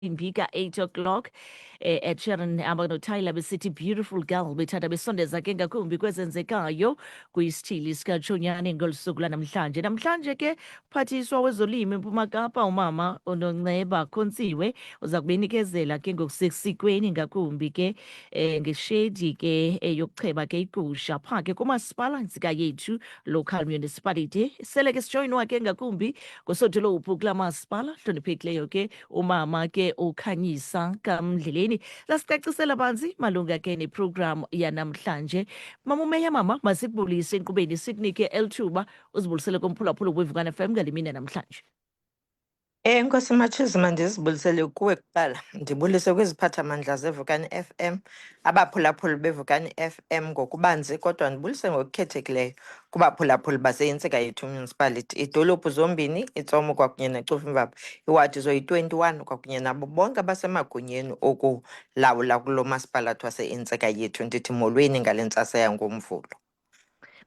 imbi ka-8 o'clock eh, ed sheeran hamba notyler besithi beautiful girl bethanda besondeza ke ngakumbi kwezenzekayo kwisithili sikatshonyane ngolu suku lanamhlanje namhlanje ke uphathiswa wezolimo empuma kapa umama unonceba khontsiwe uza kubenikezela ke ngokusesikweni ngakumbi ke eh, ngeshedi ke eh, yokucheba ke igusha phaa ke kumasipala ntsika yethu local municipality sele ke sijoyinwa ke ngakumbi ngosodolophu kula masipala hloniphekileyo ke Umama ke ukhanyisa kamndleleni lasicacisela banzi malunga ke neprogramu yanamhlanje. Mama umeya mama masikubulise enkqubeni sikunike elithuba uzibulisele komphulaphula wevukana FM ngale mini yanamhlanje. Enkosi eh, Matshizi, mandizibulisele kuwe kuqala ndibulise kwiziphathamandla zevukani FM Abaphulaphuli beVukani FM ngokubanzi kodwa ndibulise ngokukhethekileyo kubaphulaphuli baseYintsika Yethu Municipality, iidolophu zombini iTsomo kwakunye neCofimvaba, iwadi zoyi-21 kwakunye nabo bonke abasemagunyeni okulawula kulo masipalathi waseYintsika Yethu. Ndithi molweni ngale ntsasa yangoMvulo.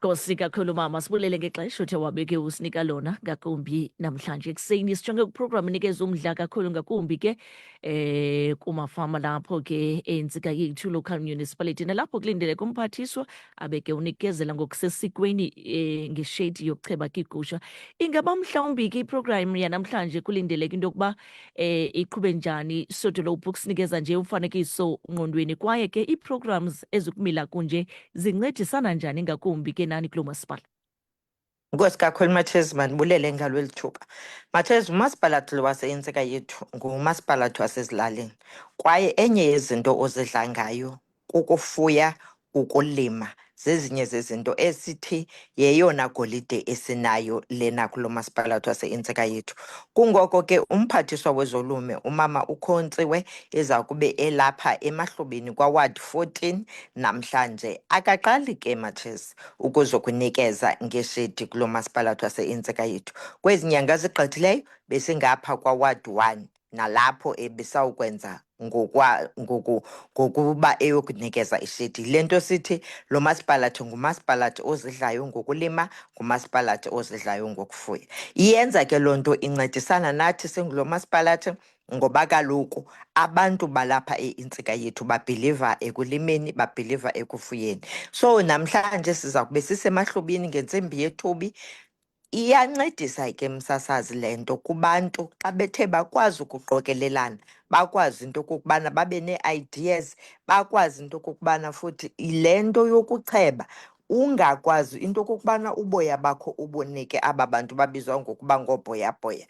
Nkosi kakhulu mama, sibulele ngexesha othe wabeke usinika lona ngakumbi namhlanje ekuseni. Sijonge kwiprogramu enikeza umdla kakhulu ngakumbi ke eh kumafama lapho ke entsika yethu local municipality nalapho kulindeleke umphathiswa abeke unikezela ngokusesikweni eh, ngeshedi yokucheba kigusha. Ingaba mhlawumbi ke iprogramu yanamhlanje kulindeleke into yokuba eh iqhube njani sodolo books nikeza nje umfanekiso ngqondweni kwaye ke iiprograms ezikumila kunje zincedisana njani ngakumbi ke nani kulo masipala Nkosi kakhulu Mathes mandibulele ngalo lithuba. Mathes umasipalathi lo waseyintsika yethu ngumasipalathi wasezilalini kwaye enye yezinto ozidla ngayo Kukufuya, ukulima zezinye zezinto esithi yeyona golide esinayo lena kulo masipalathi wase-intseka yethu. Kungoko ke umphathiswa wezolume umama ukhontziwe eza kube elapha emahlubini kwaward 14 namhlanje akaqali ke matshesi ukuzokunikeza ngeshedi kulo masipalathi wase-intseka yethu. Kwezi nyanga zigqithileyo besingapha kwaward 1 nalapho ebisawukwenza ngokwa ngoku ngokuba eyokunikeza ishedi le nto sithi lo masipalathi ngumasipalathi ozidlayo ngokulima ngumasipalathi ozidlayo ngokufuya iyenza ke loo nto incedisana nathi singulo masipalathi ngoba kaloku abantu balapha intsika yethu babhiliva ekulimeni babhiliva ekufuyeni so namhlanje siza kube sisemahlubini ngentsimbi yethubi Iyancedisa ke msasazi le nto kubantu xa bethe bakwazi ukuqokelelana, bakwazi into okokubana babe nee-ideas, bakwazi into okokubana futhi le nto yokucheba ungakwazi into okokubana uboya bakho ubunike aba bantu babizwa ngokuba ngoobhoyabhoya.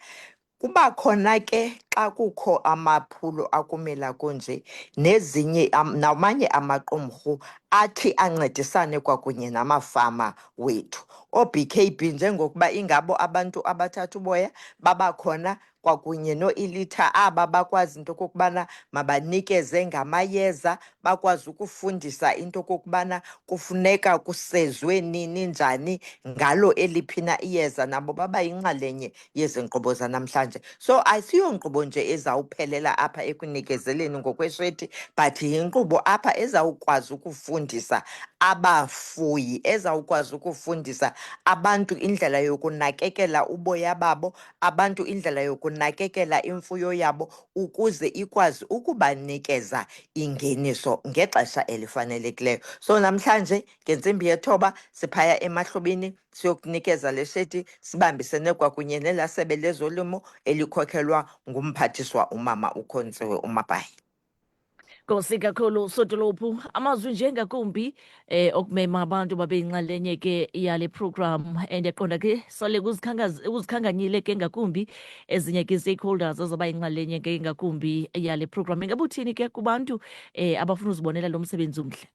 Kuba khona ke xa kukho amaphulo akumila kunje nezinye namanye amaqumrhu athi ancedisane kwakunye namafama wethu ooBKB njengokuba ingabo abantu abathatha uboya babakhona kwakunye noElitha aba bakwazi into okokubana mabanikeze ngamayeza bakwazi ukufundisa into okokubana kufuneka kusezwe nini njani ngalo eliphina iyeza nabo baba yinxalenye yezi nkqubo zanamhlanje so asiyo nkqubo nje ezawuphelela apha ekunikezeleni ngokwesheti but yinkqubo apha ezawukwazi ukufundisa abafuyi ezawukwazi ukufundisa abantu indlela yokunakekela uboya babo abantu indlela yokunakekela imfuyo yabo ukuze ikwazi ukubanikeza ingeniso ngexesha elifanelekileyo so namhlanje ngentsimbi yethoba siphaya emahlobini siyokunikeza le sheti sibambisene kwakunye nelaa sebe lezolimo elikhokelwa ngumphathiswa umama ukhontsiwe umabhayi Nkosi kakhulu Sodolophu, amazwi nje ngakumbi eh okumema abantu babe inxalenye ke yale program and yaqonda ke sale kuzikhanganyile ke ngakumbi ezinye ke stakeholders azoba inxalenye ke ngakumbi yale program. Ingabe uthini ke kubantu eh abafuna uzibonela lo msebenzi omhle?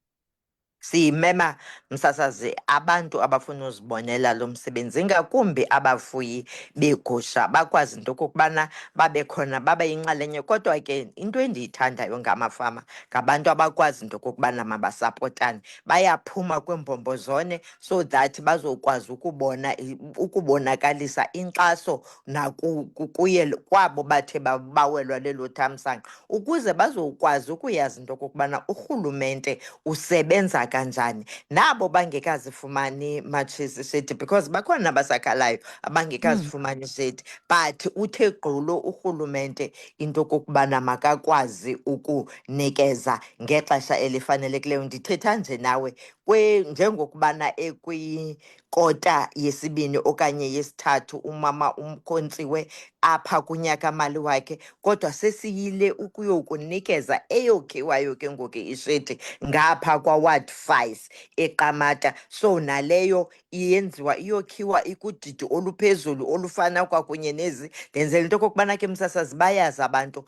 Simema msasazi abantu abafuna uzibonela lo msebenzi ngakumbi abafuyi beegusha bakwazi into okokubana babe khona babe yinxalenye. Kodwa ke into endiyithandayo ngamafama ngabantu abakwazi into okokubana mabasapotane, bayaphuma kwiimbombozone so that bazokwazi ukubona ukubonakalisa inkxaso nakuye kwabo bathe bawelwa lelo thamsanqa ukuze bazokwazi ukuyazi into okokubana urhulumente usebenza kanjani nabo bangekazifumani matshisi shedi because bakhona abasakhalayo abangekazifumani hmm. shedi but uthe gqulo urhulumente into okokubana makakwazi ukunikeza ngexesha elifanelekileyo ndithetha nje nawe njengokubana kota yesibini okanye yesithathu umama umkhontsiwe apha kunyaka-mali wakhe kodwa sesiyile ukuyokunikeza eyokhiwayo ke ngoku ishedi ngapha kwaward five eqamata so naleyo iyenziwa iyokhiwa ikudidi oluphezulu olufana kwakunye nezi ndenzela into okokubana ke msasazi bayazi abantu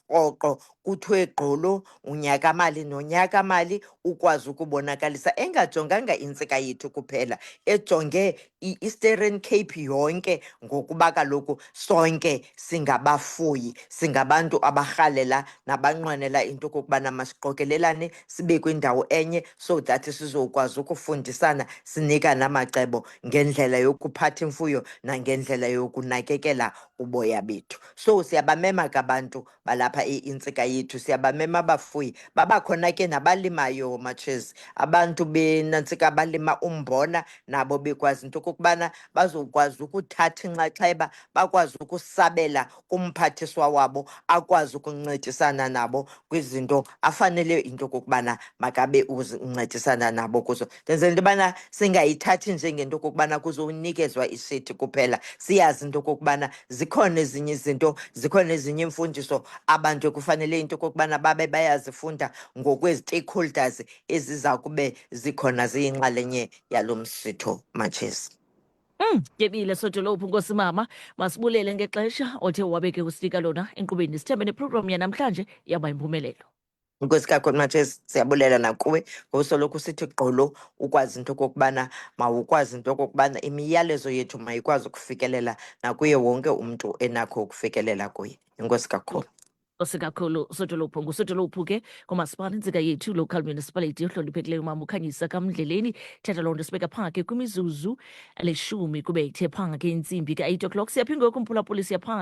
rhoqo kuthiwe gqolo unyakamali nonyakamali ukwazi ukubonakalisa engajonganga intsika yethu kuphela ejonge i-eastern cape yonke ngokuba kaloku sonke singabafuyi singabantu abarhalela nabanqwenela into okokubana masiqokelelane sibe kwindawo enye so that sizokwazi ukufundisana sinika namacebo ngendlela yokuphatha imfuyo nangendlela yokunakekela uboya bethu so siyabamema ke abantu balapha intsika yethu siyabamema abafuyi babakhona ke nabalimayo matshezi abantu benantsika balima umbona nabo bekwazi into okokubana bazokwazi ukuthatha inxaxheba bakwazi ukusabela kumphathiswa wabo akwazi ukuncedisana nabo kwizinto afanele into okokubana makabe uncedisana nabo kuzo ndenzela into yobana singayithathi njengento okokubana kuzonikezwa ishethi kuphela siyazi into okokubana zikhona ezinye izinto zikhona ezinye iimfundiso abantu ekufanele into okokubana babe bayazifunda ngokwezi-stakeholders eziza kube zikhona ziyinxalenye yalo msitho matshesi Mm, yebile sodolophu nkosi mama masibulele ngexesha othe wabeke usinika lona enkqubeni sithembe neprogramu yanamhlanje yaba yimpumelelo Nkosi kakhulu Matshesi, siyabulela nakuwe ngosoloko usithi gqolo ukwazi into okokubana mawukwazi into okokubana imiyalezo yethu mayikwazi ukufikelela nakuye wonke umntu enakho ukufikelela kuye. Inkosi kakhulu. Nkosi kakhulu Sodolophu nguSodolophu ke kumasipala intsika yethu local municipality ohloniphekileyo umama ukhanyisa kamndleleni thetha loo nto sibeka phaa ke kwimizuzu elishumi kube ithe phaa ke intsimbi ka-eight o'clock siyaphinde ngoku mphulaphuli siya phaa